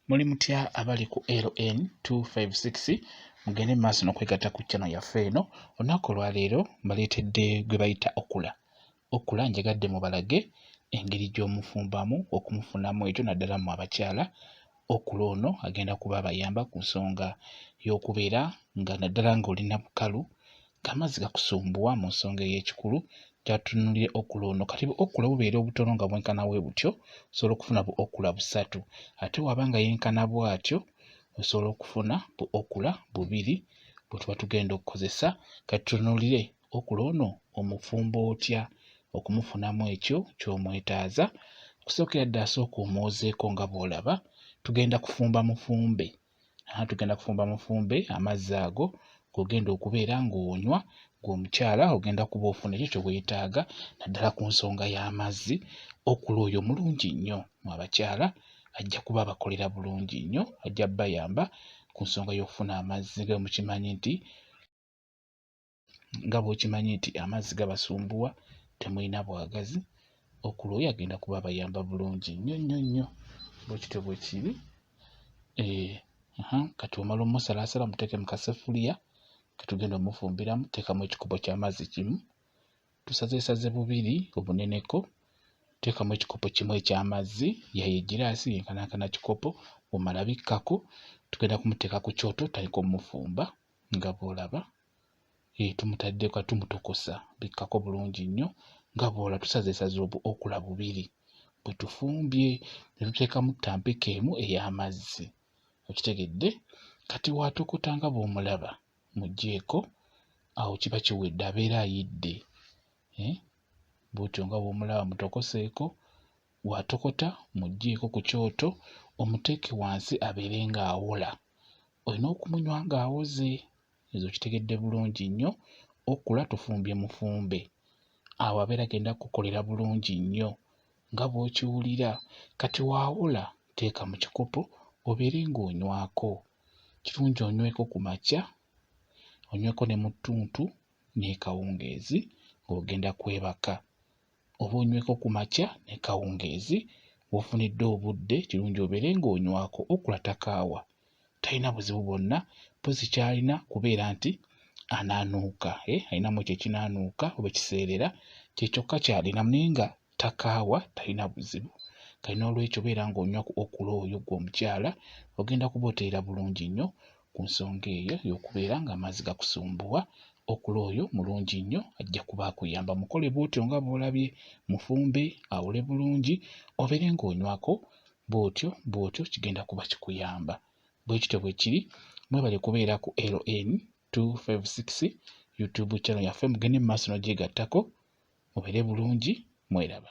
muli mutya abali ku ln 256 mugende mu maaso nokwegatta ku chano yaffe eno olunaku olwaleero mbaleetedde gwe bayita okula okula njagadde mubalage engeri gy'omufumbamu okumufunamu ekyo naddala mu abakyala okula ono agenda kuba abayamba ku nsonga y'okubeera nga naddala ng'olina bukalu Amazzi gakusumbuwa mu nsonga ey'ekikulu kyatunulire okula ono kati bu okula bubeera obutono nga bwenkana bwe butyo osobola okufuna bu okula busatu ate waba nga yenkana bwatyo osobola okufuna bu okula bubiri bwetuba tugenda okukozesa katutunulire okula ono omufumba otya okumufunamu ekyo kyomwetaaza okusookera ddala sooka omwozeeko nga bwolaba tugenda kufumba mufumbe Aha tugenda kufumba mufumbe amazzi ago gogenda okubeera ng'onywa ng'omukyala ogenda kuba ofuna ekyo kye weetaaga naddala ku nsonga y'amazzi okula oyo omulungi nnyo mu abakyala ajja kuba abakolera bulungi nnyo ajja bayamba ku nsonga y'okufuna amazzi nga mukimanyi nti nga bwokimanyi nti amazzi gabasumbuwa temulina bwagazi okulwoyo agenda kuba abayamba bulungi nnyo nnyo nnyo bwekityo bwekiri eh, kati omala omusalasala muteeke mu kasefuliya ketugenda omufumbiramu teekamu ekikopo ky'amazzi kimu tusazeesaze bubiri obuneneko teekamu ekikopo kimu eky'amazzi yayo egiraasi yenkanankana kikopo omala bikkako tugenda kumuteeka ku kyoto tutandika omufumba nga bw'olaba eh, tumutadde ka tumutokosa bikkako bulungi nnyo nga bw'ola tusazeesaze okula bubiri bwe tufumbye ne tuteekamu ttampeko emu ey'amazzi okitegedde kati waatokota nga bw'omulaba mugyeko awo kiba kiwedde abeera ayidde eh, bwotyo nga bw'omulaba mutokoseeko Bw'atokota muggyeeko ku kyoto omuteeke wansi abeere ng'awola. Olina okumunywa ng'awoze. Ezo okitegedde bulungi nnyo. Okula tufumbye mufumbe. Awo abeera agenda kukukolera bulungi nnyo nga bw'okiwulira. Kati waawola teeka mu kikopo obeere ng'onywako. Kirungi onyweko ku makya, onyweko ne mu ttuntu n'ekawungeezi ng'ogenda kwebaka. oba onyweko ku makya ne kawungeezi w'ofunidde obudde kirungi obeere ng'onywako okula takaawa talina buzibu bwonna mpozi ky'alina kubeera nti anaanuuka eh, alinamu ekyo ekinaanuuka oba ekiseerera kye kyokka ky'alinamu naye nga takaawa talina buzibu kati n'olwekyo beera ng'onywa ku okula oyo gwe omukyala ogenda kuba oteera bulungi nnyo ku nsonga eyo y'okubeera ng'amazzi gakusumbuwa okula oyo mulungi nnyo ajja kuba akuyamba mukole bw'otyo nga bw'olabye mufumbe awule bulungi obeere ng'onywako bw'otyo bw'otyo kigenda kuba kikuyamba bwe kityo bwe kiri mwebale kubeera ku ln 256 youtube channel yaffe mugende mu maaso n'ogyegattako mubeere bulungi mweraba